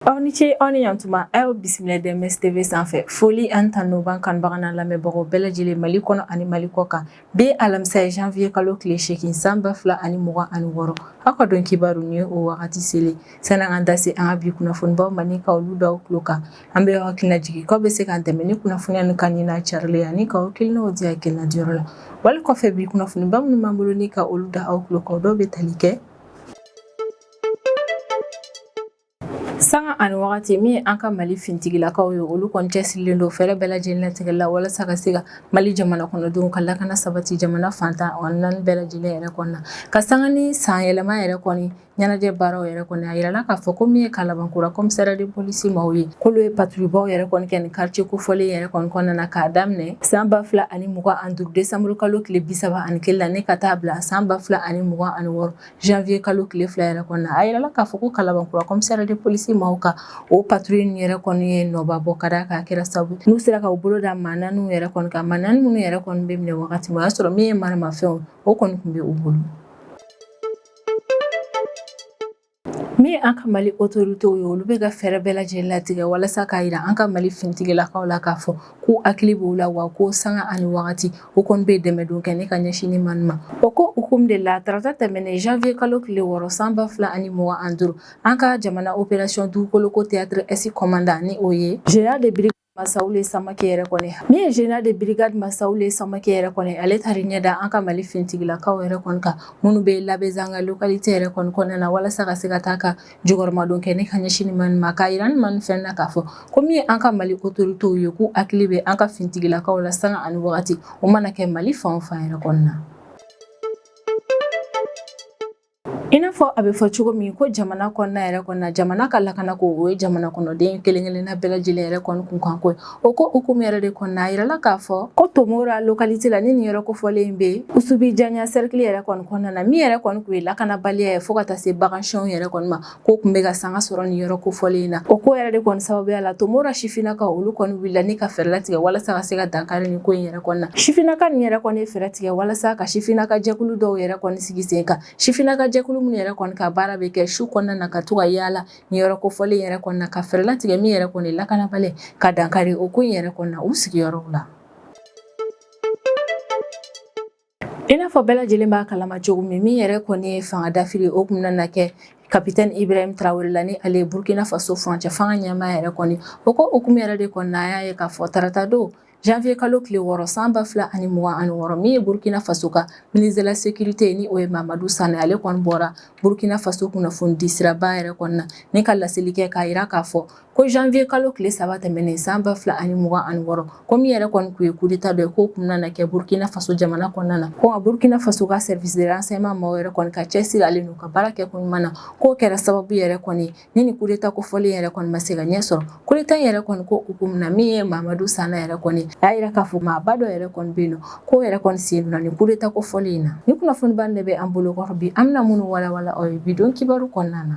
Aw ni ce aw ni yantuma an y'aw bisimila DMS TV sanfɛ foli ani tanu b'an kanubaga n'a lamɛnbagaw bɛɛ lajɛlen mali kɔnɔ ani mali kɔ kan bi alamisa ye janviye kalo tile seegin san ba fila ani mugan ani wɔɔrɔ aw ka don kibaru ni ye o wagati selen sani an ka da se an ka bi kunnafonibaw ma ni ka olu da aw tulo kan An b'aw hakili lajigin k'aw bɛ se k'an dɛmɛ ni kunnafoniya ni ka nin carilen ani k'aw hakilinaw di hakilina diyɔrɔ la wali kɔfɛ bi kunnafoniba minnu b'an bolo ni ka olu da aw tulo kan dɔw bɛ tali kɛ sanga ani wagati min an ka mali fintigilakaw ye olu kɔni cɛsirilen don fɛɛrɛ bɛɛ lajɛlen latigɛ la walasa ka se ka mali jamana kɔnɔdenw ka lakana sabati jamana fan tan ni naani bɛɛ lajɛlen yɛrɛ kɔnɔna ka sanga ni san yɛlɛma yɛrɛ kɔni ɲɛnajɛ baaraw yɛrɛ kɔni a yirala k'a fɔ ko min ye kalabankura commissariat de police maaw ye k'olu ye patrouillebaw yɛrɛ kɔni kɛ ni quartier kofɔlen yɛrɛ kɔni kɔnɔna na k'a daminɛ san ba fila ani mugan ani duuru desanburu kalo tile bisaba ani kelen la ne ka taa bila san ba fila ani mugan ani wɔɔrɔ janviye kalo tile fila yɛrɛ kɔnɔna a yirala k'a fɔ ko kalabankura commissariat de police maaw ka o patrouille ninnu yɛrɛ kɔni ye nɔba bɔ ka d'a kan a kɛra sabu n'u sera ka u bolo da maa naaniw yɛrɛ kɔni kan maa naani minnu yɛrɛ kɔni bɛ minɛ wagati min o y'a sɔrɔ min ye maramafɛnw o kɔni tun bɛ u bolo Min an ka mali autoritéw ye olu bɛ ka fɛɛrɛ bɛɛ lajɛlen latigɛ walasa k'a yira an ka mali fintigilakaw la k'a fɔ k'u hakili b'u la wa ko sanga ani wagati u kɔni bɛ dɛmɛdon kɛ ne ka ɲɛsin nin maaw ma o ko hukumu de la tarata tɛmɛnen janviye kalo tile wɔɔrɔ san ba fila ani mugan ani duuru an ka jamana opération Dugukoloko théâtre Est commandant ni o ye général de bri Masawule Samake yɛrɛ kɔni min ye général de brigade Masawule Samake yɛrɛ kɔni ale taara i ɲɛ da an ka mali fintigilakaw yɛrɛ kɔni kan minnu bɛ Labezanga localité yɛrɛ kɔni kɔnɔna na walasa ka se ka taa ka jukɔrɔmadon kɛ ne ka ɲɛsin nin maaw ma k'a yira nin maaw fɛnɛ na k'a fɔ ko min ye an ka mali autoritéw ye k'u hakili bɛ an ka fintigilakaw la sanga ani wagati u mana kɛ mali fan o fan yɛrɛ kɔnɔna na I n'a fɔ a bɛ fɔ cogo min ko jamana kɔnɔna yɛrɛ kɔnɔna jamana ka lakana ko o ye jamana kɔnɔden kelen-kelenna bɛɛ lajɛlen yɛrɛ kɔni kunkanko ye o ko hukumu yɛrɛ de kɔnɔna a yirala k'a fɔ ko tomora localité la ni nin yɔrɔ kofɔlen in bɛ Usubijanya cercle yɛrɛ kɔni kɔnɔna na min yɛrɛ kɔni tun ye lakanabaliya ye fo ka taa se bagansonw yɛrɛ kɔni ma k'o tun bɛ ka sanga sɔrɔ nin yɔrɔ kofɔlen in na o ko yɛrɛ de kɔni sababuya la tomora sifinnakaw olu kɔni wulila ni ka fɛɛrɛ latigɛ walasa ka se ka dankari nin ko in yɛrɛ kɔnɔna sifinnaka nin yɛrɛ kɔni ye fɛɛrɛ tigɛ walasa ka sifinnaka jɛkulu dɔw yɛrɛ kɔni sigi sen kan sifinnaka jɛkulu minnu yɛrɛ kɔni ka baara bɛ kɛ su kɔnɔna na ka to ka yaala nin yɔrɔ kofɔlen yɛrɛ kɔnɔna ka fɛɛrɛ latigɛ min yɛrɛ kɔni lakanabaliya ka dankari o ko in yɛrɛ kɔnɔna u sigiyɔrɔw la I n'a fɔ bɛɛ lajɛlen b'a kalama cogo min min yɛrɛ kɔni ye fanga dafiri o kun na kɛ kapitɛni Ibrahim Tarawele la ni ale ye burukina faso furancɛ fanga ɲɛmaa yɛrɛ kɔni o ko hukumu yɛrɛ de kɔni na y'a ye k'a fɔ tarata don janvier kalo tile wɔɔrɔ san ba fila ani mugan ani wɔɔrɔ min ye burukina faso ka ministre de la sécurité ye ni o ye Mamadu Sana ale kɔni bɔra burukina faso kunnafoni di siraba yɛrɛ kɔnɔna na ni ka laseli kɛ k'a yira k'a fɔ ko janvier kalo tile saba tɛmɛnen san ba fila ani mugan ani wɔɔrɔ ko min yɛrɛ kɔni tun ye kudeta dɔ ye k'o kun na kɛ burkina faso jamana kɔnɔna na ko nka burkina faso ka service de renseignement maaw yɛrɛ kɔni ka cɛsiri n'u ka baara kɛ ko ɲuman na k'o kɛra sababu yɛrɛ kɔni ni ni kudeta kofɔlen yɛrɛ kɔni ma se ka ɲɛ sɔrɔ kudeta yɛrɛ kɔni ko hukumu na min ye Mamadu Sana yɛrɛ kɔni a y'a yira k'a fɔ maaba dɔ yɛrɛ kɔni bɛ yen nɔ k'o yɛrɛ kɔni sen donna ni kudeta kofɔlen in na ni kunnafoniba de bɛ an bolo kɔrɔ bi an bɛna minnu walawala aw ye bi don kibaru kɔnɔna na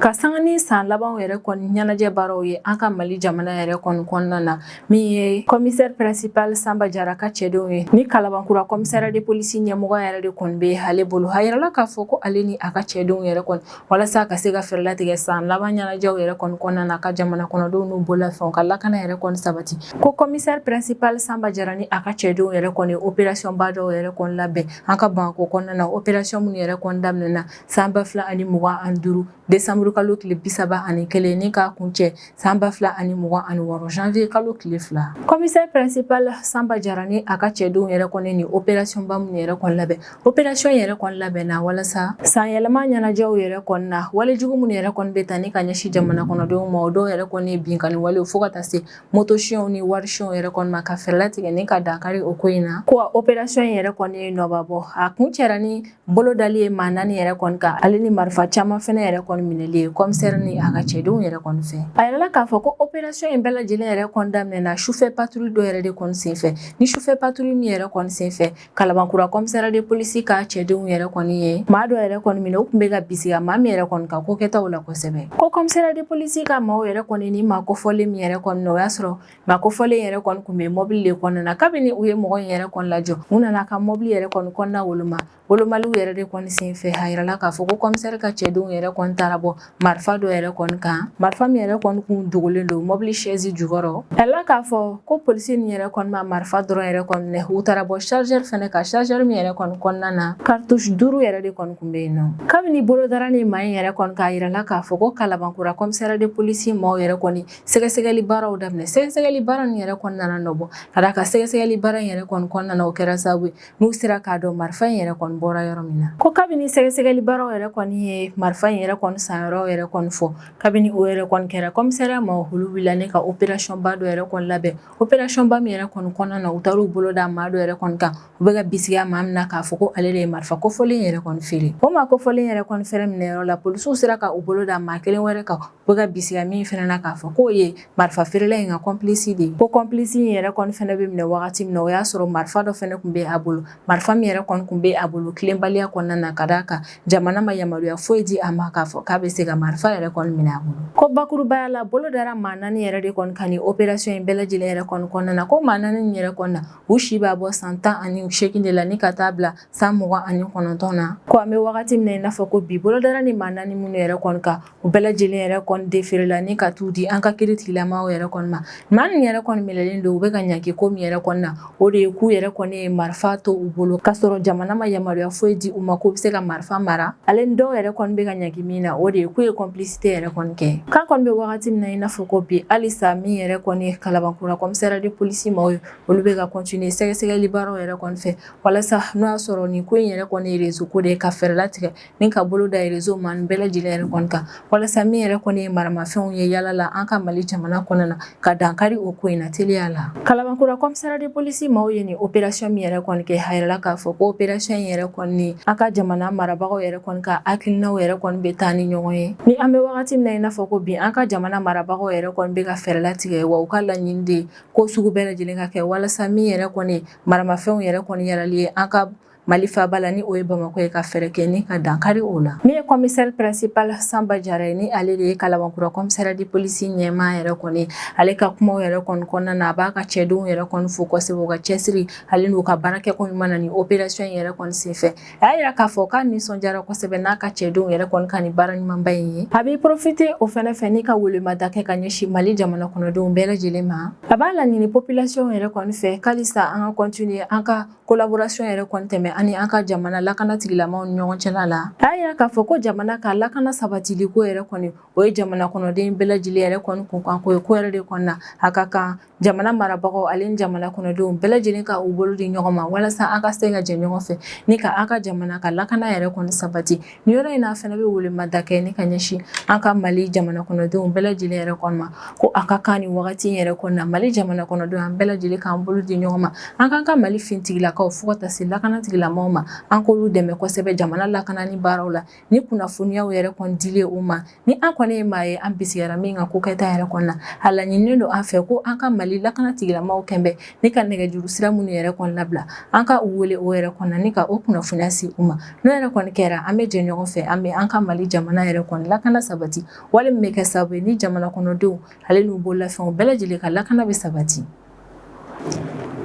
ka sanga ni san labanw yɛrɛ kɔni ɲɛnajɛ baaraw ye an ka mali jamana yɛrɛ kɔni kɔnɔna na min ye kɔmisɛri principal sanba jara ka cɛdenw ye ni kalabankura kɔmisariya de polisi ɲɛmɔgɔ yɛrɛ de kɔni bɛ ale bolo a yirala k'a fɔ ko ale ni a ka cɛdenw yɛrɛ kɔni walasa ka se ka fɛɛrɛ latigɛ san laban ɲɛnajɛw yɛrɛ kɔni kɔnɔna na ka jamana kɔnɔdenw n'u bololafɛnw ka lakana yɛrɛ kɔni sabati ko kɔmisɛri principal sanba jara ni a ka cɛdenw yɛrɛ kɔni operasiyɔnba dɔw yɛrɛ kɔni labɛn An ka Bamakɔ kɔnɔna na operasiyɔn minnu yɛrɛ kɔn daminɛna san ba fila ani mugan ani duuru desanburu kalo tile bisaba ani kelen ni k'a kuncɛ san ba fila ani mugan ani wɔɔrɔ janvier kalo tile fila kɔmisɛri principal sanba jara ni a ka cɛdenw yɛrɛ kɔn nin operasiyɔnba minnu yɛrɛ kɔn labɛn operasiyɔn yɛrɛ kɔn labɛnna walasa san yɛlɛma ɲɛnajɛw yɛrɛ kɔn na walejugu minnu yɛrɛ kɔn bɛ taa ni ka ɲɛsin jamana kɔnɔdenw ma o dɔw yɛrɛ kɔn ye binkanni walew fo ka taa se motosiyɛnw ni warisiyɛnw yɛrɛ kɔni ma ka fɛɛrɛ latigɛ ni ka dankari o ko in na ko a operasiyɔn in yɛrɛ kɔni ye nɔba bɔ a kuncɛra ni bolodali ye maa naani yɛrɛ kɔni kan ale ni marifa caman fɛnɛ yɛrɛ kɔni minɛli ye kɔmisɛri ni a ka cɛdenw yɛrɛ kɔni fɛ a yirala k'a fɔ ko operasiyɔn in bɛɛ lajɛlen yɛrɛ kɔni daminɛna sufɛ paturu dɔ yɛrɛ de kɔni senfɛ ni sufɛ paturu min yɛrɛ kɔni senfɛ Kalabankura kɔmisariya de polisi ka cɛdenw yɛrɛ kɔni ye maa dɔ yɛrɛ kɔni minɛ u tun bɛ ka bisiga maa min yɛrɛ kɔni ka ko kɛtaw la kosɛbɛ ko kɔmisariya de polisi ka maaw yɛrɛ kɔni ni maa kofɔlen min yɛrɛ kɔni minɛ o y'a sɔrɔ maa kofɔlen yɛrɛ kɔni tun bɛ mɔbili de kɔnɔna na kabini u ye mɔgɔ in yɛrɛ kɔni lajɔ u nana ka mɔbili yɛrɛ kɔni kɔnɔna woloma wolomali yɛrɛ de kɔni senfɛ a yirala k'a fɔ ko kɔmisɛri ka cɛdenw yɛrɛ kɔn taara bɔ Marifa dɔ yɛrɛ kɔni kan marifa min yɛrɛ kɔni kun dogolen don mɔbili sɛsi jukɔrɔ a yirala k'a fɔ ko polisi ni yɛrɛ kɔni ma marifa dɔrɔn yɛrɛ kɔni minɛ u taara bɔ chargeur fɛnɛ kan chargeur min yɛrɛ kɔni kɔnɔna na cartouche duuru yɛrɛ de kɔni tun bɛ yen nɔ kabini bolo dara ni maa in yɛrɛ kɔni kan a yirala k'a fɔ ko Kalabankura kɔmisariya de polisi maaw yɛrɛ kɔni sɛgɛsɛgɛli baaraw daminɛ sɛgɛsɛgɛli baara nin yɛrɛ kɔni nana nɔ bɔ ka d'a kan sɛgɛsɛgɛli baara in yɛrɛ kɔni o kɛra sababu n'u sera k'a dɔn marifa in yɛrɛ kɔni bɔra yɔrɔ min na ko kabini sɛgɛsɛgɛli baaraw yɛrɛ kɔni ye marifa in yɛrɛ kɔni san yɔrɔ yɛrɛ kɔni fɔ kabini o yɛrɛ kɔni kɛra kɔmisariya maaw olu wulila ni ka operasɔnba dɔ yɛrɛ kɔni labɛn operasɔnba min yɛrɛ kɔni kɔnɔna na u taar'u bolo da maa dɔ yɛrɛ kɔni kan u bɛ ka bisigiya maa min na k'a fɔ ko ale de ye marifa kofɔlen yɛrɛ kɔni feere o maa kofɔlen yɛrɛ kɔni fɛnɛ minɛ yɔrɔ la polisiw sera ka u bolo da maa kelen wɛrɛ kan bɛ ka bisigiya min fɛnɛ na k'a fɔ k'o ye marifa feerela in ka kɔnplisi de ye ko kɔnplisi in yɛrɛ kɔni fɛnɛ bɛ minɛ wagati min na o y'a sɔrɔ marifa dɔ fɛnɛ tun bɛ a bolo marifa min yɛrɛ kɔni tun bɛ a bolo tilenbaliya kɔnɔna na ka d'a kan jamana ma yamaruya foyi di a ma k'a fɔ k'a bɛ se ka marifa yɛrɛ kɔni minɛ a bolo ko bakurubaya la bolo dara maa naani yɛrɛ de kɔni kan operasɔn in bɛɛ lajɛlen yɛrɛ kɔni kɔnɔna na ko maa naani yɛrɛ kɔnɔna na u si b'a bɔ san tan ani segin de la ni ka taa bila san mugan ani kɔnɔntɔn na ko an bɛ wagati min na i n'a fɔ ko bi bolo dara ni maa naani minnu yɛrɛ kɔni kan u bɛɛ lajɛlen yɛrɛ kɔni deferela ni ka t'u di an ka kiiritigilamaw yɛrɛ kɔni ma maa nin yɛrɛ kɔni minɛlen don u bɛ ka ɲangi ko min yɛrɛ kɔni na o de ye k'u yɛrɛ kɔni ye marifa to u bolo k'a sɔrɔ jamana ma yamaruya foyi di u ma k'u bɛ se ka marifa mara ale ni dɔw yɛrɛ kɔni bɛ ka ɲangi min na o de ye k'u ye kɔnplisite yɛrɛ kɔni kɛ k'an kɔni bɛ wagati min na i n'a fɔ ko bi halisa min yɛrɛ kɔni ye kalabankura kɔmisara de polisi maaw ye olu bɛ ka continuer sɛgɛsɛgɛli baaraw yɛrɛ kɔni fɛ walasa n'o y'a sɔrɔ nin ko in yɛrɛ kɔni ye rezo ko de ye ka fɛɛrɛ latigɛ ni ka bolo da rezo maa nin bɛɛ lajɛlen yɛrɛ kɔni kan walasa min yɛrɛ kɔni ye maramafɛnw ye yaala la an ka mali jamana kɔnɔna na ka dankari o ko in na teliya la kalabankura kɔmisara de polisi maaw ye nin operasiyɔn min yɛrɛ kɔni kɛ a yirala k'a fɔ ko operasiyɔn in yɛrɛ kɔni ni an ka jamana marabagaw yɛrɛ kɔni ka hakilinaw yɛrɛ kɔni bɛ taa ni ɲɔgɔn ye ni an bɛ wagati min na i n'a fɔ ko bi an ka jamana marabagaw yɛrɛ kɔni bɛ ka fɛɛrɛ latigɛ wa u ka laɲini de ko sugu bɛɛ lajɛlen ka kɛ walasa min yɛrɛ kɔni maramafɛnw yɛrɛ kɔni yɛrɛli ye an ka Mali faaba la ni o ye Bamakɔ ye ka fɛɛrɛ kɛ ni ka dankari o la. Min ye commissaire principal Sanba Jara ye ni ale de ye Kalabankura commissariat de police ɲɛmaa yɛrɛ kɔni ale ka kumaw yɛrɛ kɔni kɔnɔna na a b'a ka cɛdenw yɛrɛ kɔni fo kosɛbɛ u ka cɛsiri ale n'u ka baara kɛko ɲuman na nin opération in yɛrɛ kɔni senfɛ. A y'a yira k'a fɔ k'a nisɔndiyara kosɛbɛ n'a ka cɛdenw yɛrɛ kɔni ka nin baara ɲumanba in ye. A bɛ profiter o fɛnɛ fɛ ni ka welemada kɛ ka ɲɛsin Mali jamana kɔnɔdenw bɛɛ lajɛlen ma. A b'a laɲini population yɛrɛ kɔni fɛ k'alisa an ka continuer an ka kolaborasyon yɛrɛ kɔni tɛmɛ ani an ka jamana lakana tigilamaw ni ɲɔgɔn cɛla la a y'a yira k'a fɔ ko jamana ka lakana sabatili ko yɛrɛ kɔni o ye jamana kɔnɔden bɛɛ lajɛlen yɛrɛ kɔni kunkanko ye k'o yɛrɛ de kɔni na a ka kan jamana marabagaw ale ni jamana kɔnɔdenw bɛɛ lajɛlen ka u bolo di ɲɔgɔn ma walasa an ka se ka jɛ ɲɔgɔn fɛ ni ka an ka jamana ka lakana yɛrɛ kɔni sabati Ni yɔrɔ in n'a fɛnɛ bɛ welemada kɛ ni ka ɲɛsin an ka mali jamana kɔnɔdenw bɛɛ lajɛlen yɛrɛ kɔni ma ko a ka kan ni wagati yɛrɛ kɔni na mali jamana kɔnɔdenw an bɛɛ lajɛlen k'an bolo di ɲɔgɔn ma an k'an ka mali fintigilakaw fo ka taa se lakanatigilamaw ma an k'olu dɛmɛ kosɛbɛ jamana lakanani baaraw la ni kunnafoniyaw yɛrɛ kɔni dili u ma Ni an kɔni ye maa ye an bisigara min ka kokɛta yɛrɛ kɔni na a laɲininen don an fɛ ko an ka mali lakana tigilamaw kɛlen bɛ ni ka nɛgɛjuru sira minnu yɛrɛ kɔni labila an ka u wele o yɛrɛ kɔni na ni ka o kunnafoniya se u ma n'o yɛrɛ kɔni kɛra an bɛ jɛ ɲɔgɔn fɛ an bɛ an ka mali jamana yɛrɛ kɔni lakana sabati wale min bɛ kɛ sababu ye ni jamana kɔnɔdenw ale n'u bolo lafɛnw bɛɛ lajɛlen ka lakana bɛ sabati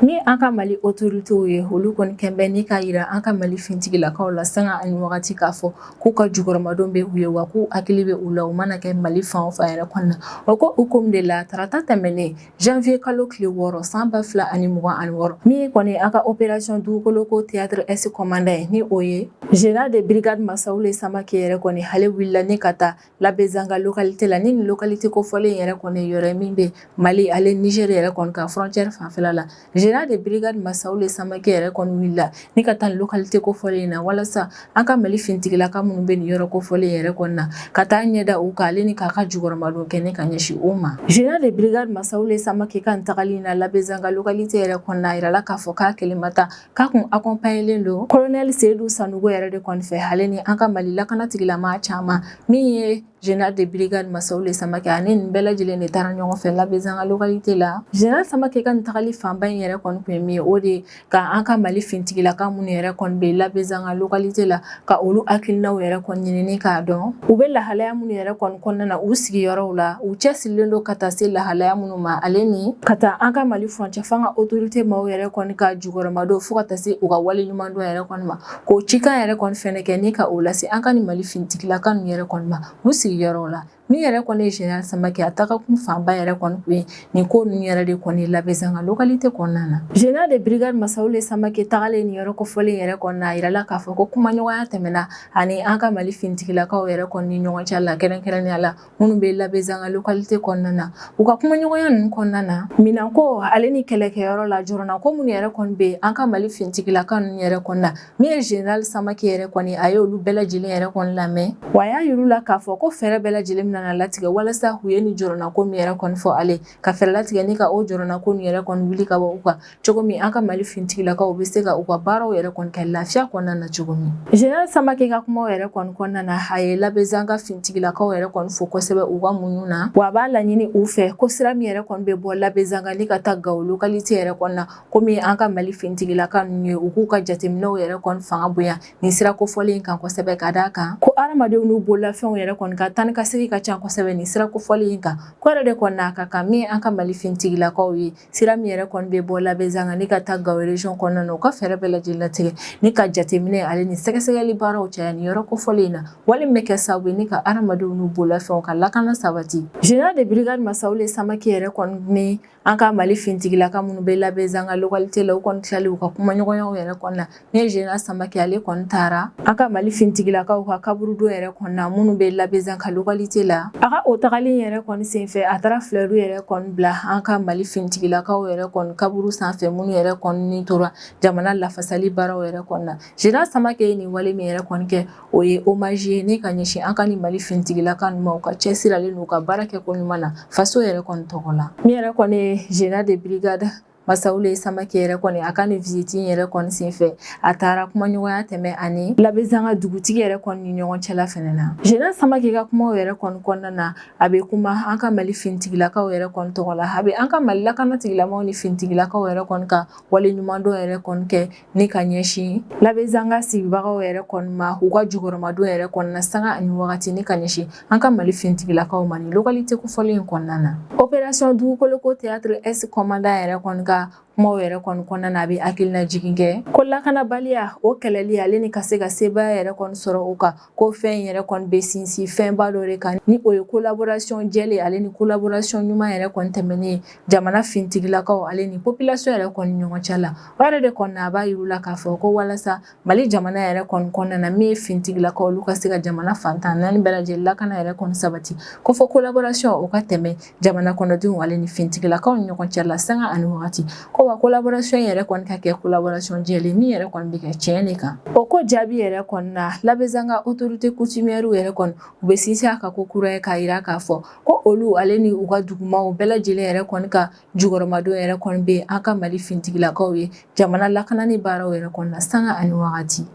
Ni an ka mali otoritew ye olu kɔni kɛlen bɛ ni ka yira an ka mali finitigilakaw la sanga ani wagati k'a fɔ k'u ka jukɔrɔmadon bɛ u ye wa k'u hakili bɛ u la u mana kɛ mali fan o fan yɛrɛ kɔnɔna na o ko hukumu de la tarata tɛmɛnen janvier kalo tile wɔɔrɔ san ba fila ani mugan ani wɔɔrɔ min kɔni an ka opération Dugukoloko théâtre Est commandant ye ni o ye général de brigade Masaoule Samake yɛrɛ kɔni ale wulila ni ka taa Labezanga localité la nin localité kofɔlen yɛrɛ kɔni yɔrɔ min bɛ mali ale Niger yɛrɛ kɔni ka frontière fanfɛla la général de brigade Masaoule Samake yɛrɛ kɔni wulila ni ka taa localité kofɔlen in na walasa an ka mali finitigilaka minnu bɛ nin yɔrɔ kofɔlen yɛrɛ kɔnɔna na ka taa ɲɛ da u kan ale ni k'a ka jukɔrɔmadon kɛ ni ka ɲɛsin u ma général de brigade Masaoule Samake ka tagali in na Labezanga localité yɛrɛ kɔnɔna a yirala k'a fɔ k'a kelen ma taa k'a kun akɔnpaɲelen don kolonɛli Seyidu Sanogo yɛrɛ de kɔni fɛ ale ni an ka mali lakana tigilama caman min ye Général de brigade Masaoule Samake ani nin bɛɛ lajɛlen de taara ɲɔgɔn fɛ Labezanga localité la. Général Samake ka nin tagali fanba in yɛrɛ kɔni kun ye min ye, o de ka an ka Mali finitigilaka minnu yɛrɛ kɔni bɛ Labezanga localité la ka olu hakilinaw yɛrɛ kɔni ɲinini k'a dɔn u bɛ lahalaya minnu yɛrɛ kɔni kɔnɔna na u sigiyɔrɔw la u cɛsirilen don ka taa se lahalaya minnu ma ale ni ka taa an ka mali furancɛ fanga otorite maaw yɛrɛ kɔni ka jukɔrɔmadon fo ka taa se u ka waleɲumandɔn yɛrɛ kɔni ma k'o cikan yɛrɛ kɔni fɛnɛ kɛ ni ka o lase an ka ni mali finitigilaka ninnu yɛrɛ kɔni ma u sigiyɔrɔw la Ni yɛrɛ kɔni ye général Samake a taga kun fanba yɛrɛ kɔni kun ye nin ko ninnu yɛrɛ de kɔni ye Labezanga localité kɔnɔna na. Général de brigade Masawule Samake tagalen nin yɔrɔ kofɔlen yɛrɛ kɔni na, a yirala k'a fɔ ko kumaɲɔgɔnya tɛmɛna a ni an ka Mali finitigilakaw yɛrɛ kɔni ni ɲɔgɔn cɛ la kɛrɛnkɛrɛnnenya la minnu bɛ Labezanga localité kɔnɔna na. U ka kumaɲɔgɔnya ninnu kɔnɔna na, minɛnko ale ni kɛlɛkɛyɔrɔ la jɔrɔnako minnu yɛrɛ kɔni bɛ an ka Mali finitigilaka ninnu yɛrɛ kɔni na, Min ye Zenerali Samake yɛrɛ kɔni a ye olu bɛɛ lajɛlen yɛrɛ kɔni lamɛn, wa a y'a yir'u la k'a fɔ ko fɛɛrɛ bɛɛ lajɛlen bɛna na latigɛ walasa u ye nin jɔrɔnako min yɛrɛ kɔni fɔ ale ye, ka fɛɛrɛ latigɛ ni ka o jɔrɔnako nin yɛrɛ kɔni wuli ka bɔ u kan cogo min an ka Mali finitigilakaw bɛ se ka u ka baaraw yɛrɛ kɔni kɛ lafiya kɔnɔna na cogo min. Zenerali Samake ka kumaw yɛrɛ kɔni kɔnɔna na, a ye Labezanga finitigilakaw yɛrɛ kɔni fo kosɛbɛ u ka muɲu na, wa a b'a laɲini u fɛ ko sira min yɛrɛ kɔni bɛ bɔ Labezanga ni ka taa Gao localité yɛrɛ kɔnɔna kɔmi an ka mali fintigilaka ninnu ye u k'u ka jateminɛw yɛrɛ kɔni fanga bonya ni sira kofɔlen kan kosɛbɛ ka d'a kan ko hadamadenw n'u bololafɛnw yɛrɛ kɔni ka taa ni ka segin ka ca kosɛbɛ ni sira kofɔlen in kan ko yɛrɛ de kɔni n'a ka kan min an ka mali fintigilakaw ye sira min yɛrɛ kɔni bɛ bɔ labɛnzanga ni ka taa gao région kɔnɔna na u ka fɛɛrɛ bɛɛ lajɛlen latigɛ ni ka jateminɛ ale ni sɛgɛsɛgɛli baaraw caya ni yɔrɔ kofɔlen in na wale min bɛ kɛ sababu ye ni ka hadamadenw n'u bololafɛnw ka lakana sabati général de brigade masawule samake yɛrɛ kɔni an ka mali fintigilaka minnu bɛ labɛnzanga lɔkalite la u kɔni tilalen u ka kumaɲɔgɔnyaw yɛrɛ kɔnɔna na général samake ale kɔni taara an ka mali fintigilakaw ka kaburudo yɛrɛ kɔnɔna minnu bɛ labɛnzanga lɔkalite la a ka o tagalen yɛrɛ kɔni senfɛ a taara filɛru yɛrɛ kɔni bila an ka mali fintigilakaw yɛrɛ kɔni kaburu sanfɛ minnu yɛrɛ kɔni tora jamana lafasali baaraw yɛrɛ kɔnɔna général samake ye nin wale min yɛrɛ kɔni kɛ O ye hommage ye ni ka ɲɛsin an ka ni mali fintigilaka ninnu ma u ka cɛsiri ale n'u ka baarakɛko ɲuman na faso yɛrɛ kɔni tɔgɔ la nin yɛrɛ kɔni général de brigade masawule samake yɛrɛ kɔni a ka nin visite yɛrɛ kɔni senfɛ a taara kumaɲɔgɔnya tɛmɛ a ni labɛnzanga dugutigi yɛrɛ kɔni ni ɲɔgɔn cɛla fɛnɛ na général samake ka kuma yɛrɛ kɔni kɔnɔna na a bɛ kuma an ka mali fintigilakaw yɛrɛ kɔni tɔgɔ la a bɛ an ka mali lakana tigilamaw ni fintigilakaw yɛrɛ kɔni ka waleɲumandɔn yɛrɛ kɔni kɛ ni ka ɲɛsin labɛnzanga sigibagaw yɛrɛ kɔni ma u ka jukɔrɔmadon yɛrɛ kɔni na sanga ani wagati ni ka ɲɛsin an ka mali fintigilakaw ma ni lɔkalite kofɔlen in kɔnɔna na opération dugukoloko théâtre est commandant yɛrɛ kɔni ka kumaw yɛrɛ kɔni kɔnɔna na a bɛ hakilina jigin kɛ ko lakanabaliya o kɛlɛli ale ni ka se ka sebaaya yɛrɛ kɔni sɔrɔ o kan ko fɛn in yɛrɛ kɔni bɛ sinsin fɛnba dɔ de kan ni o ye kolaborasiyɔn jɛlen ale ni kolaborasiyɔn ɲuman yɛrɛ kɔni tɛmɛnen jamana fintigilakaw ale ni popilasiyɔn yɛrɛ kɔni ni ɲɔgɔn cɛ la o yɛrɛ de kɔni a b'a yira u la k'a fɔ ko walasa Mali jamana yɛrɛ kɔni kɔnɔna na min ye fintigilakaw olu ka se ka jamana fan tan ni naani bɛɛ lajɛlen lakana yɛrɛ kɔni sabati ko fo kolaborasiyɔn o ka tɛmɛ jamana kɔnɔdenw ale ni fintigilakaw ni ɲɔgɔn cɛ la sanga ani wagati ko wa kolaborasɔn in yɛrɛ kɔni ka kɛ kolaborasɔn jɛlen min yɛrɛ kɔni bɛ kɛ tiɲɛ de kan o ko jaabi yɛrɛ kɔni na labɛnzanga autorité coutumièrew yɛrɛ kɔni u bɛ sinsin a kan ko kura ye k'a yira k'a fɔ ko olu ale ni u ka dugumaw bɛɛ lajɛlen yɛrɛ kɔni ka jukɔrɔmadon yɛrɛ kɔni bɛ an ka mali fintigilakaw ye jamana lakanani baaraw yɛrɛ kɔni na sanga ani wagati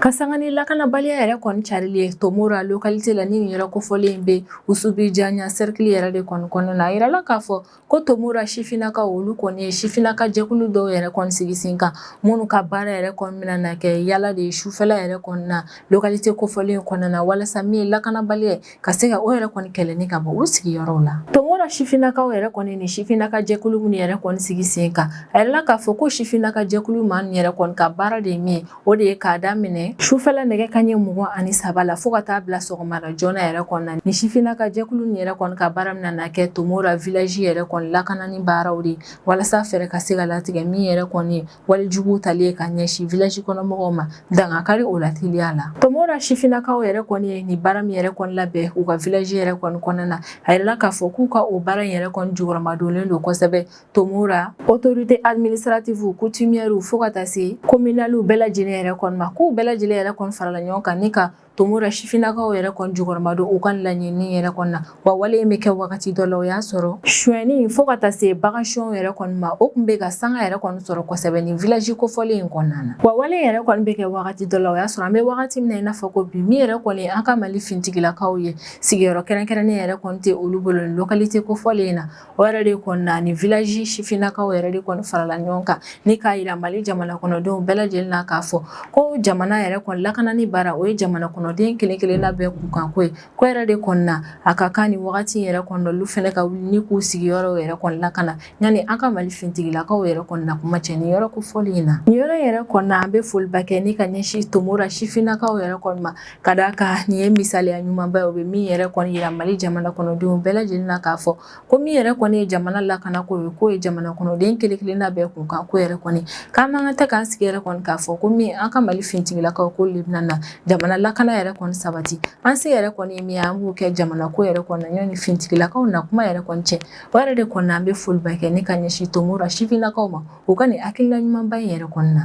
Ka sanga ni lakanabaliya yɛrɛ kɔni carili ye Tomora localité la ni nin yɔrɔ kofɔlen in bɛ Wusubijaɲa cercle yɛrɛ de kɔni kɔnɔna na, a yirala k'a fɔ ko Tomora sifinnakaw olu kɔni ye sifinnaka jɛkulu dɔw yɛrɛ kɔni sigi sen kan minnu ka baara yɛrɛ kɔni bɛna na kɛ yala de ye sufɛla yɛrɛ kɔni na localité kofɔlen in kɔnɔna na walasa min ye lakanabaliya ye ka se ka o yɛrɛ kɔni kɛlɛni ka bɔ u sigiyɔrɔw la Tomora sifinnakaw yɛrɛ kɔni ni sifinnaka jɛkulu minnu yɛrɛ kɔni sigi sen kan a yirala k'a fɔ ko sifinnaka jɛkulu maa min yɛrɛ kɔni ka baara de ye min ye o de ye k'a daminɛ sufɛla nɛgɛ kanɲɛ mugan ani saba la fɔɔ ka taa bila sɔgɔmada joona yɛrɛ kɔnɔna ni sifinnaka jɛkulu nin yɛrɛ kɔni ka baara min na kɛ Tomora village yɛrɛ kɔni lakanani baaraw de walasa fɛɛrɛ ka se ka latigɛ min yɛrɛ kɔni walijugu tali ye ka ɲɛsin village kɔnɔmɔgɔw ma dangakari o la teliya la Tomora sifinnakaw yɛrɛ kɔni ye nin baara min yɛrɛ kɔni labɛn u ka village yɛrɛ kɔni kɔnɔna na a yirala k'a fɔ k'u ka o baara in yɛrɛ kɔni jukɔrɔmadonlen don kosɛbɛ Tomora autorité administrative coutumière fo ka taa se communal bɛɛ lajɛlen yɛrɛ kɔni ma k'u bɛɛ lajɛlen yɛrɛ kɔni farala ɲɔgɔn kan ni ka Tomora sifinnakaw yɛrɛ kɔni jukɔrɔma don u ka laɲini yɛrɛ kɔni na wa wale in bɛ kɛ wagati dɔ la o y'a sɔrɔ sonyɛni fo ka taa se bagansonyɛ yɛrɛ kɔni ma o kun bɛ ka sanga yɛrɛ kɔni sɔrɔ kosɛbɛ ni village kofɔlen in kɔnɔna na wa wale yɛrɛ kɔni bɛ kɛ wagati dɔ la o y'a sɔrɔ an bɛ wagati min na i n'a fɔ ko bi min yɛrɛ kɔni an ka mali fintigilakaw ye sigiyɔrɔ kɛrɛnkɛrɛnnen yɛrɛ kɔni tɛ olu bolo ni localité kofɔlen in na o yɛrɛ de kɔni na ni village sifinnakaw yɛrɛ de kɔni farala ɲɔgɔn kan ni k'a yira mali jamana kɔnɔdenw bɛɛ lajɛlen na k'a fɔ ko jamana yɛrɛ kɔni lakanani baara o ye jamana kɔnɔden kelen kelenna bɛɛ kunkanko ye k'o yɛrɛ de kɔni na a ka kan ni wagati yɛrɛ kɔni olu fɛnɛ ka wuli ni k'u sigiyɔrɔw yɛrɛ kɔni lakana yanni an ka mali fintigilakaw yɛrɛ kɔni na kuma cɛ ni yɔrɔ kofɔlen in na ni yɔrɔ yɛrɛ kɔni na an bɛ foliba kɛ ni ka ɲɛsin tomora sifinnakaw yɛrɛ kɔni ma Ka d'a kan nin ye misaliya ɲumanba ye o bɛ min yɛrɛ kɔni yira Mali jamana kɔnɔdenw bɛɛ lajɛlen na k'a fɔ ko min yɛrɛ kɔni ye jamana lakanako ye k'o ye jamana kɔnɔden kelen-kelenna bɛɛ kunkan ko yɛrɛ kɔni k'an man kan tɛ k'an sigi yɛrɛ kɔni k'a fɔ ko min an ka Mali finitigilakaw k'olu de bɛna na jamana lakana yɛrɛ kɔni sabati an se yɛrɛ kɔni ye min ye an k'o kɛ jamanako yɛrɛ kɔni na yanni finitigilakaw na kuma yɛrɛ kɔni cɛ o yɛrɛ de kɔni na an bɛ foliba kɛ ni ka ɲɛsin Tomora sifinnakaw ma u ka nin hakilina ɲumanba in yɛrɛ kɔni na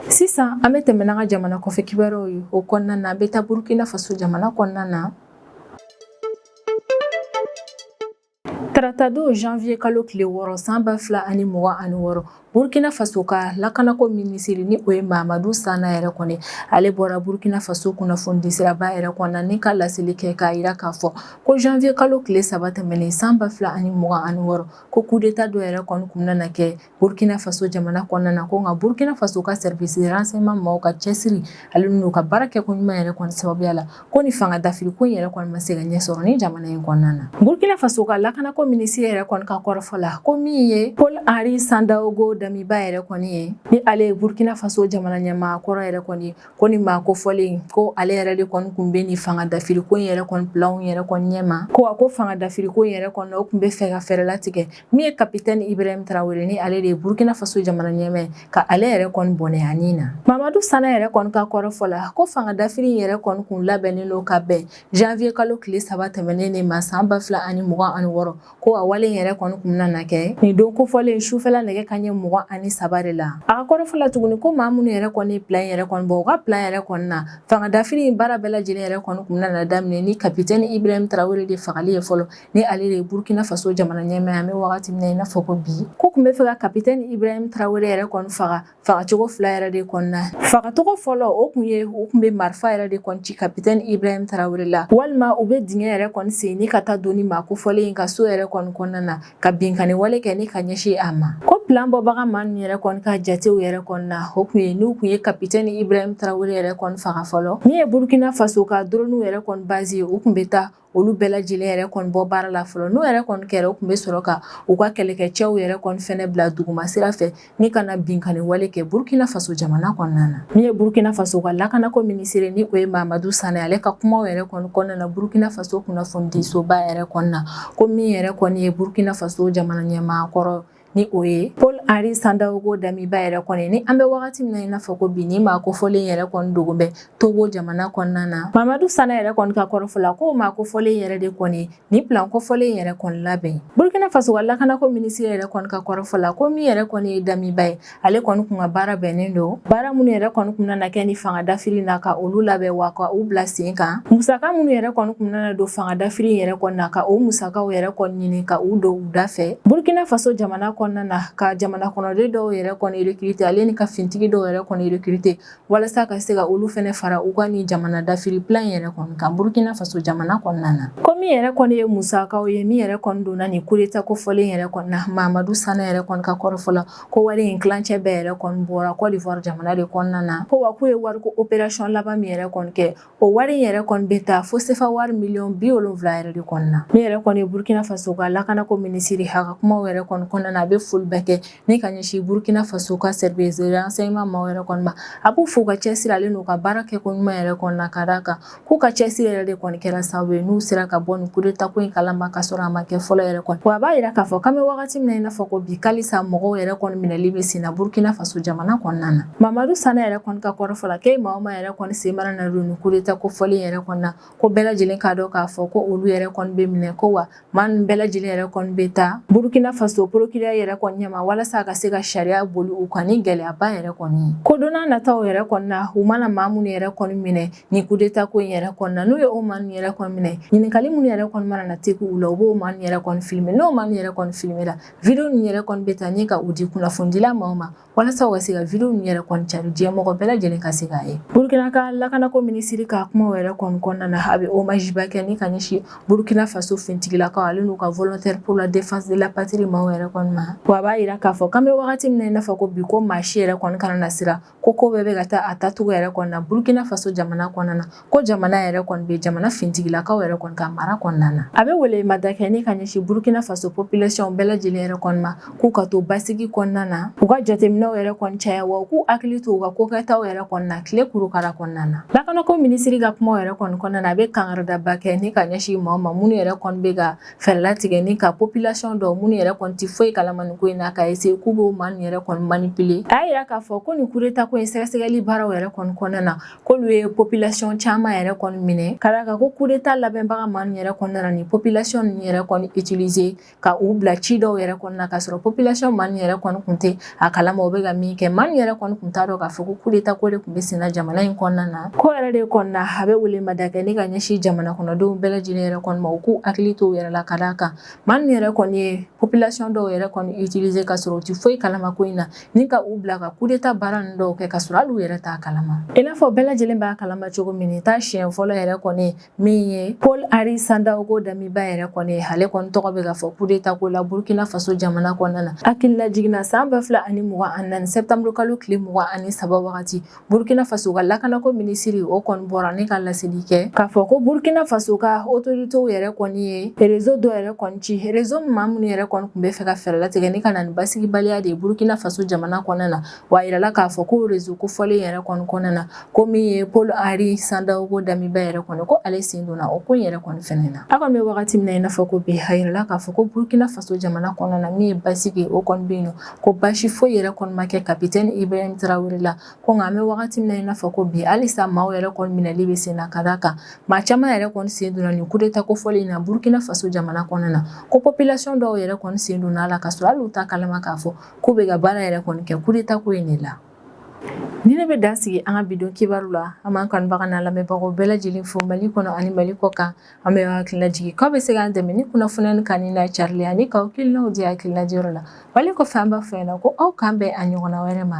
Sisan an bɛ tɛmɛ n'an ka jamana kɔfɛ kibaruyaw ye o kɔnɔna na an bɛ taa Burkina Faso jamana kɔnɔna na Taratadon janvier kalo tile wɔɔrɔ san ba fila ani mugan ani wɔɔrɔ Burkina Faso ka lakanako minisiri ni o ye Mahamadou Sana yɛrɛ kɔni ale bɔra Burkina Faso kunnafonidisiraba yɛrɛ kɔnɔna ni ka laseli kɛ k'a yira k'a fɔ ko janvier kalo tile saba tɛmɛnen san ba fila ani mugan ani wɔɔrɔ ko coup d'Etat dɔ yɛrɛ kɔni kun bɛna kɛ Burkina Faso jamana kɔnɔna na ko nka Burkina Faso ka service de renseignement mɔgɔw ka cɛsiri ale n'u ka baara kɛko ɲuman yɛrɛ kɔni sababuya la ko nin fanga dafiri ko in yɛrɛ kɔni ma se ka ɲɛ sɔrɔ nin jamana in kɔnɔna na. Burkina Faso ka lakanako minisiri yɛrɛ kɔni ka kɔrɔfɔ la ko min ye Paul Henri Sandaogo Damiba yɛrɛ kɔni ye ni ale ye Burkina Faso jamana ɲɛmaa kɔrɔ yɛrɛ kɔni ko nin maa kofɔlen ko ale yɛrɛ de kɔni kun bɛ nin fanga dafiri ko in yɛrɛ kɔni plan yɛrɛ kɔni ɲɛma ko a ko fanga dafiri ko in yɛrɛ kɔni o kun bɛ fɛ ka fɛɛrɛ latigɛ Min ye kapitɛni Ibrahim Tarawele ni ale de ye Burkina Faso jamana ɲɛmaa ye ka ale yɛrɛ kɔni bɔnɛ a ni na. Mamadu Sana yɛrɛ kɔni ka kɔrɔfɔ la, ko fanga dafiri in yɛrɛ kɔni kun labɛnnen don ka bɛn janvier kalo tile saba tɛmɛnen de ma san ba fila ani mugan ani wɔɔrɔ, ko a wale in yɛrɛ kɔni kun bɛna na kɛ nin don kofɔlen sufɛla nɛgɛ kanɲɛ mugan ani saba de la. A ka kɔrɔfɔ la tuguni ko maa minnu yɛrɛ kɔni ye plan in yɛrɛ kɔni bɔ, u ka plan yɛrɛ kɔni na, fanga dafiri in baara bɛɛ lajɛlen yɛrɛ kɔni kun bɛna na daminɛ ni kapitɛni Ibrahim Tarawele de fagali ye fɔlɔ. ni ale de ye burukina faso jamana ɲɛmaa ye an bɛ wagati min na i n'a fɔ ko bi k'u kun bɛ fɛ ka kapitɛni ibrahim tarawele yɛrɛ kɔni faga fagacogo fila yɛrɛ de kɔni na fagacogo fɔlɔ o kun ye u kun bɛ marifa yɛrɛ de kɔni ci kapitɛni ibrahim tarawele la walima u bɛ dingɛ yɛrɛ kɔni sen ni ka taa don nin maa kofɔlen in ka so yɛrɛ kɔni kɔnɔna na ka binkanni wale kɛ ni ka ɲɛsin a ma ko plan bɔbaga maa ninnu yɛrɛ kɔni ka jatew yɛrɛ kɔni na o kun ye n'u kun ye kapitɛni ibrahim tarawele yɛrɛ kɔni faga fɔlɔ min ye burukina faso ka doroniw yɛrɛ kɔni bazi ye u kun bɛ taa olu bɛɛ lajɛlen yɛrɛ kɔni bɔ baara la fɔlɔ n'o yɛrɛ kɔni kɛra u kun bɛ sɔrɔ ka u ka kɛlɛkɛcɛw yɛrɛ kɔni fɛnɛ bila duguma sira fɛ ni ka na binkanni wale kɛ Burkina Faso jamana kɔnɔna na min ye Burkina Faso ka lakanako minisiri ni o ye Mamadu Sana ale ka kumaw yɛrɛ kɔni kɔnɔna na Burkina Faso kunnafonidisoba yɛrɛ kɔni na ko min yɛrɛ kɔni ye Burkina Faso jamana ɲɛmaa kɔrɔ ni o ye paul henri sandaogo damiba yɛrɛ kɔni ye ni an bɛ wagati min na i n'a fɔ ko bi nin maa kofɔlen yɛrɛ kɔni dogolen bɛ togo jamana kɔnɔna na mamadu sana yɛrɛ kɔni ka kɔrɔfɔ la k'o maa kofɔlen yɛrɛ de kɔni ye nin plan kofɔlen yɛrɛ kɔni labɛn burkina faso ka lakanako minisiri yɛrɛ kɔni ka kɔrɔfɔ la ko min yɛrɛ kɔni ye damiba ye ale kɔni kun ka baara bɛnnen don baara minnu yɛrɛ kɔni kun nana kɛ nin fanga dafiri na ka olu labɛn wa ka u bila sen kan musaka minnu yɛrɛ kɔni kun nana don fanga dafiri yɛrɛ kɔni na ka o musakaw yɛrɛ kɔni ɲini ka u don u da fɛ burkina faso jamana kɔnɔna na ka jamana kɔnɔden dɔw yɛrɛ kɔni rekirite ale ni ka fintigi dɔw yɛrɛ kɔni rekirite walasa ka se ka olu fɛnɛ fara u ka nin jamana dafiri plan in yɛrɛ kɔni kan burkina faso jamana kɔnɔna na ko min yɛrɛ kɔni ye musakaw ye min yɛrɛ kɔni donna nin kudeta kofɔlen yɛrɛ kɔni na mamadu sana yɛrɛ kɔni ka kɔrɔfɔ la ko wari in kilancɛ bɛɛ yɛrɛ kɔni bɔra cote d'ivoire jamana de kɔnɔna na ko wa k'u ye wariko operation laban min yɛrɛ kɔni kɛ O wari in yɛrɛ kɔni bɛ taa fo sefa wari miliyɔn bi wolonwula yɛrɛ de kɔnɔna na min yɛrɛ kɔni ye burukina faso ka lakanako minisiri a ka kumaw yɛrɛ kɔni kɔnɔna na a bɛ foli bɛɛ kɛ ni ka ɲɛsin burukina faso ka renseignement maaw yɛrɛ kɔni ma a b'u fo ka cɛsiri ale n'u ka baara kɛko ɲuman yɛrɛ kɔni na ka d'a kan k'u ka cɛsiri yɛrɛ de kɔni kɛra sababu ye n'u sera ka bɔ nin kudetako in kalama ka sɔrɔ a ma kɛ fɔlɔ yɛrɛ kɔni wa a b'a yira k'a fɔ k'an bɛ wagati min na i n'a fɔ ko bi halisa mɔgɔw yɛrɛ kɔni minɛli bɛ sen na burukina faso jamana kɔnɔna na mamadu sana yɛrɛ kɔni ka kɔrɔfɔ la ko maa ma yɛrɛ kɔni sen mana na don coup d'Etat ko fɔlen yɛrɛ kɔni na, ko bɛɛ lajɛlen k'a dɔn k'a fɔ ko olu yɛrɛ kɔni bɛ minɛ ko wa maa ninnu bɛɛ lajɛlen yɛrɛ kɔni bɛ taa Burukina Faso procureur yɛrɛ kɔni ɲɛma walasa a ka se ka sariya boli u kan ni gɛlɛyaba yɛrɛ kɔni ye. Ko don n'a nataw yɛrɛ kɔni na, u mana maa minnu yɛrɛ kɔni minɛ nin coup d'Etat ko in yɛrɛ kɔni na, n'u ye o maa ninnu yɛrɛ kɔni minɛ, ɲininkali minnu yɛrɛ kɔni mana na tegu u la, u b'o maa ninnu yɛrɛ kɔni filmer n'o maa ninnu yɛrɛ kɔni filmer la, video ninnu yɛrɛ kɔni bɛ ta ni ka u di kunnafonidila maaw ma walasa u ka se ka video ninnu yɛrɛ kɔni cari diɲɛ mɔgɔ bɛɛ lajɛlen ka se k'a ye burkina ka lakanako minisiri ka kuma yɛrɛ kɔni kɔnɔna na a bɛ hommage ba kɛ ni ka ɲɛsin burkina faso fintigilakaw ale n'u ka volontaire pour la défense de la patrie maaw yɛrɛ kɔni ma wa a b'a yira k'a fɔ k'an bɛ wagati min na i n'a fɔ ko bi ko maa si yɛrɛ kɔni kana na siran ko ko bɛɛ bɛ ka taa a taacogo yɛrɛ kɔni na burkina faso jamana kɔnɔna na ko jamana yɛrɛ kɔni bɛ jamana fintigilakaw yɛrɛ kɔni ka mara kɔnɔna na a bɛ welemada kɛ ni ka ɲɛsin burukina faso population bɛɛ lajɛlen yɛrɛ kɔni ma k'u ka to basigi kɔnɔna na u ka jateminɛw yɛrɛ kɔni caya wa u k'u hakili to u ka kokɛtaw yɛrɛ kɔni na tile kurukara kɔnɔna na lakanako minisiri ka kumaw yɛrɛ kɔni kɔnɔna na a bɛ kangaridaba kɛ ni ka ɲɛsin maaw ma minnu yɛrɛ kɔni bɛ ka fɛɛrɛ latigɛ ni ka population dɔw minnu yɛrɛ kɔni tɛ foyi kalama nin ko in na ka essayer k'u b'o maa ninnu yɛrɛ kɔni manipuler a y'a yira k'a fɔ ko nin kudeta ko in sɛgɛsɛgɛli baaraw yɛrɛ kɔni kɔnɔna na k'olu ye population caman yɛrɛ kɔni minɛ ka d'a kan ko kudeta labɛnbaga maa ninnu yɛrɛ kɔni nana ni population ninnu yɛrɛ kɔni utiliser ka u bila ci dɔw yɛrɛ kɔni na ka sɔrɔ population maa ninnu yɛrɛ kɔni tun tɛ a kalama u bɛ ka min kɛ maa ninnu yɛrɛ kɔni tun t'a dɔn k'a fɔ ko kudeta ko de tun bɛ senna jamana in kɔnɔna na k'o yɛrɛ de kɔnɔna a bɛ welemada kɛ ni ka ɲɛsin jamana kɔnɔdenw bɛɛ lajɛlen yɛrɛ kɔni ma u k'u hakili to u yɛrɛ la ka d'a kan maa ninnu yɛrɛ kɔni ye population dɔw yɛrɛ kɔni utiliser ka sɔrɔ u tɛ foyi kalama ko in na ni ka u bila ka kudeta baara ninnu dɔw kɛ ka sɔrɔ hali u yɛrɛ t'a kalama i n'a fɔ bɛɛ lajɛlen b'a kalama cogo min nin t'a siɲɛ fɔlɔ yɛrɛ kɔni min ye paul henri sandaogo damiba yɛrɛ kɔni ye ale kɔni tɔgɔ bɛ ka fɔ kudeta ko la burkina faso jamana kɔnɔna na hakililajigin na san ba fila ani mugan ani naani sɛtanburukalo tile mugan ani saba wagati Burkina faso ka lakanako minisiri o kɔni bɔra ni ka laseli kɛ k'a fɔ ko burukina faso ka autoritéw yɛrɛ kɔni ye réseau dɔ yɛrɛ kɔni ci réseau maa minnu yɛrɛ kɔni tun b'a fɛ ka fɛɛrɛ latigɛ ni ka na ni basigibaliya de ye burukina faso jamana kɔnɔna na wa a yirala k'a fɔ ko réseau ko fɔlen yɛrɛ kɔni kɔnɔna na ko min ye paul henri sandaogo damiba yɛrɛ kɔni ko ale sen donna o ko yɛrɛ kɔni fɛnɛ na an kɔni bɛ wagati min na i n'a fɔ ko bi a yirala k'a fɔ ko burukina faso jamana kɔnɔna na min ye basigi o kɔni bɛ yen ko basi foyi yɛrɛ kɔni ma kɛ capitaine ibrahim traoré la ko nka an bɛ wagati min na i n'a fɔ ko bi halisa maaw yɛrɛ kɔni minɛli bɛ sen na ka d'a kan maa caman yɛrɛ kɔni sen donna nin kudeta ko fɔlen in na burukina faso jamana kɔnɔna na ko population dɔw yɛrɛ kɔni sen donna a la ka sɔrɔ hali u t'a kalama k'a fɔ k'u bɛ ka baara yɛrɛ kɔni kɛ kudeta ko in de la nin de bɛ dan sigi an ka bi don kibaru la an b'an kanubaga n'a lamɛnbagaw bɛɛ lajɛlen fo mali kɔnɔ ani mali kɔkan An b'aw hakili lajigin k'aw bɛ se k'an dɛmɛ ni kunnafoni in kanuni n'a carili ani k'aw hakilinaw di hakilina diyɔrɔ la wali kɔfɛ an b'a fɔ ɲɛ na ko aw k'an bɛn a ɲɔgɔnna wɛrɛ ma